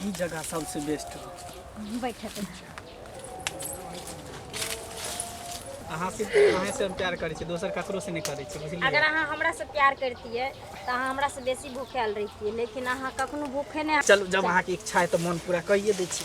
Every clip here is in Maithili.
ई जगह सबसे बेस्ट हो बैठत अहाँ से अहाँ से हम प्यार करै छी दोसर ककरो से नहीं करै छी अगर बुझलियै अहाँ हमरा से प्यार करतियै तऽ अहाँ हमरा से बेसी भूखायल रहितियै लेकिन अहाँ कखनो भूखे नहि चलू जब अहाँके इच्छा है तऽ मोन पूरा कहिए दै छी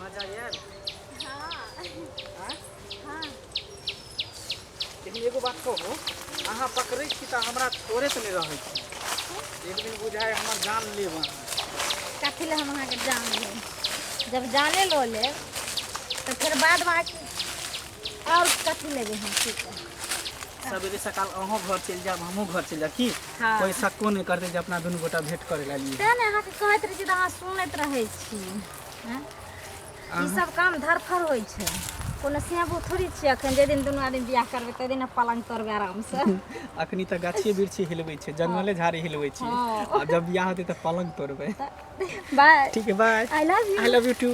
मजा आयल लेकिन एगो बात कहू अहाँ पकड़ै छी तऽ हमरा थोड़े तऽ नहि रहै छी एक दिन बुझाइ हमर जान लेब अहाँ कथी लए हम अहाँके जान लेब जब जाने लऽ लेब तऽ फेर बाद बाकी आओर कथी लेबै हम की कहब सवेरे सकाल अहूँ घर चलि जायब हमहूँ घर चलि जायब की हँ कोइ शक्को नहि करतै जे अपना दुनू गोटा भेंट करै लए एलियै तेँ ने अहाँके कहैत रहै छी तऽ अहाँ सुनैत रहै छी हँ? ई सब काम धरफड़ होइ छै कोनो सेबो थोड़ी छै अखन जे दिन दुनू आदमी बियाह करबै ताहि दिन पलंग तोड़बै आरामसँ अखनी तऽ गाछिए बिरछी हिलबै छै जंगले झाड़ी हिलबै छै हँ। आ जब बियाह होतै तऽ पलंग तोड़बै बाय ठीक है bye I love you I love you too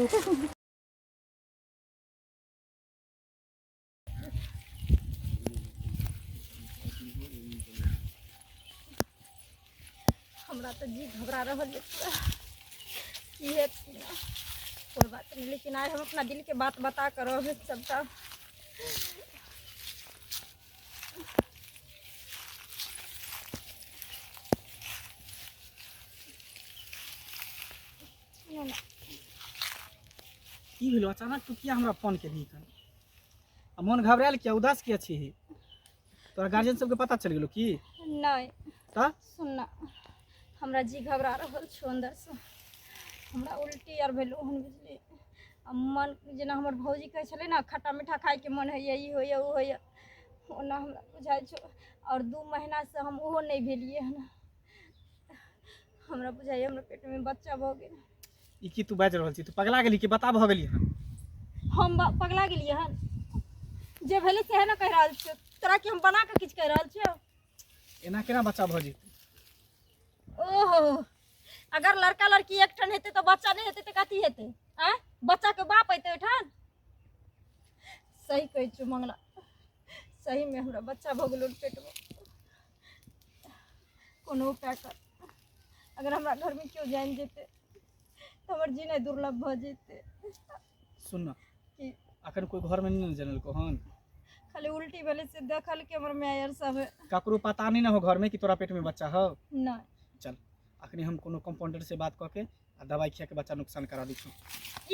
हमरा तऽ जी घबरा रहल है की है कोई बात नहीं लेकिन आज हम अपना दिल के बात बता कर रहे हैं सबका की भेलो अचानक तू किया हमरा फोन के दी आ मोन घबरायल किया उदास किया छी तोरा गार्जियन सबके पता चल गेलो की नहि तऽ सुन ना हमरा जी घबरा रहल छौ अन्दरसँ हमरा उल्टी आर भेल ओहन बुझली आ मन जेना हमर भौजी कहै छलै ने खट्टा मीठा खायके मन होइए ई होइए ओ होइए ओना हमरा बुझाइ छौ आओर दू महीनासँ हम ओहो नहि भेलियै हन हमरा बुझाइए हमरा पेट में बच्चा भऽ गेल ई की तू बाजि रहल छी तू पगला गेली कि बता भऽ गेली हन हम ब- पगला गेलियै हन जे भेलै सएह ने कहि रहल छियौ तोरा कि हम बना कऽ किछु कहि रहल छियौ एना केना बच्चा भऽ जेतै ओहो अगर लड़का लड़की एक ठन हेतै तऽ बच्चा नहि हेतै तऽ कथी हेतै आँय बच्चाके बाप हेतै ओहिठाम सही कहै छियौ मंगला सहीमे हमरा बच्चा भऽ गेल पेटमे कोनो उपाय कर अगर हमरा घर में क्यों जान जेते तो हमर जीना दुर्लभ भ जेते सुन ना कि अखन कोई घर में नहीं न जनल को हन खाली उल्टी भेले से देखल के हमर मायर सब है। ककरो पता नहीं ना हो घर में कि तोरा पेट में बच्चा हो ना चल अखनी हम कोनो कंपाउंडर से बात करके आ दवाई खिया के बच्चा नुकसान करा दी छो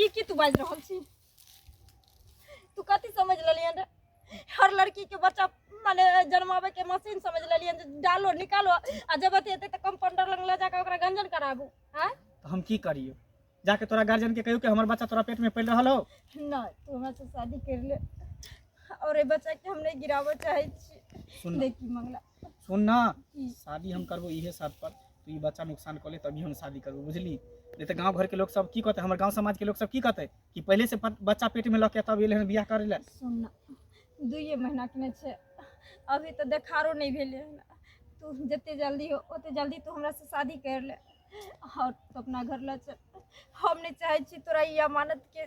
ई की तू बाज रहल छी तू कथी समझ लेलियन रे हर लड़की के बच्चा माने जन्मावे के मशीन समझ लेलियन जे डालो निकालो आ जब अथी हेतै तऽ कंपाउंडर लग ले जाके ओकरा गंजन कराबू हैं तो हम की करियो जाके तोरा गार्जियन के कहियो कि हमर बच्चा तोरा पेट में पल रहल हो नहीं तू हमरा से शादी कर ले और ए बच्चा के हम नहीं गिराबो चाहे छी सुन ना। देखी मंगला सुन ना की? शादी हम करबो इहे शर्त पर तू ई बच्चा नुकसान कर ले तभी हम शादी करबो बुझली नहीं तो गांव घर के लोग सब की कहते हमर गांव समाज के लोग सब की कहते कि पहले से पत- बच्चा पेट में लके तब एले हन बियाह करे ले सुन ना दुइए महीना के नहि छै अभी तऽ देखारो नहि भेलै हन तू जते जल्दी हो ओते जल्दी तू हमरा से शादी कर ले और तू अपना घर लऽ चल हम नहि चाहै छी तोरा ई अमानत के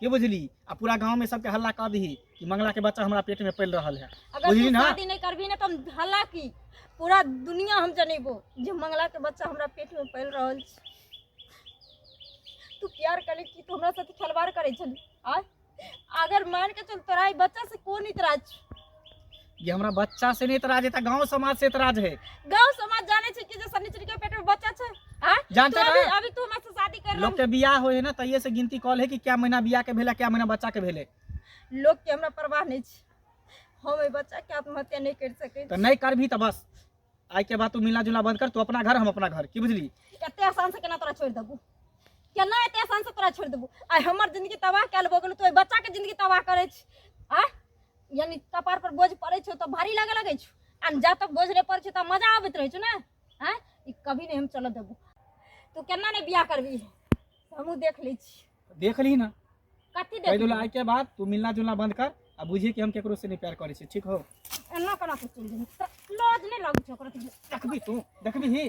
की बुझली आ पूरा गांव में सबके हल्ला कर दही कि मंगला के बच्चा हमरा पेट में पल रहल है अगर बुझली तू ना? शादी नहीं करबी ना तो हम हल्ला की पूरा दुनिया हम जनेबो जे मंगला के बच्चा हमरा पेट में पल रहल छै तू प्यार करे की तो हमरा साथ खिलवाड़ करे छल आ अगर मान के चल तोरा ई बच्चा से कोन इतराज छै? ये हमरा बच्चा से नहीं इतराज है ता गांव समाज से इतराज है गांव समाज जाने छै कि जे शनिचर के पेट में बच्चा छै हां जानते अभी अभी तू हमरा से शादी कर लोग के बियाह होय है ना तइए से गिनती कॉल है कि क्या महीना बियाह के भेला क्या महीना बच्चा के भेले लोग के हमरा परवाह नहीं छै हम ए बच्चा के आत्महत्या नहीं कर सके तो नहीं कर भी तो बस आई के बाद तू मिलना जुलना बंद कर तू अपना घर हम अपना घर की बुझली कते आसान से केना तोरा छोड़ देबू केना एते आसान से तोरा छोड़ देबू आई हमर जिंदगी तबाह कर लेबो तू बच्चा के जिंदगी तबाह करे छै आ यानी कपार पर बोझ पड़े छो तो भारी लगे लगे छो आ जा तक बोझ नहीं पड़े छो तो मजा आबत रहे छो ना हैं ई कभी नहीं हम चल देबो तो केना ने बियाह करबी हमहू देख ले छी देख ली ना कथी कह देख दूला आइ के बाद तू मिलना जुलना बंद कर आ बुझी कि हम केकरो से नहीं प्यार करे छी ठीक हो एना केना के चल जेबी लाज नहीं लागै छो ओकरा देखबी तू देखबी ही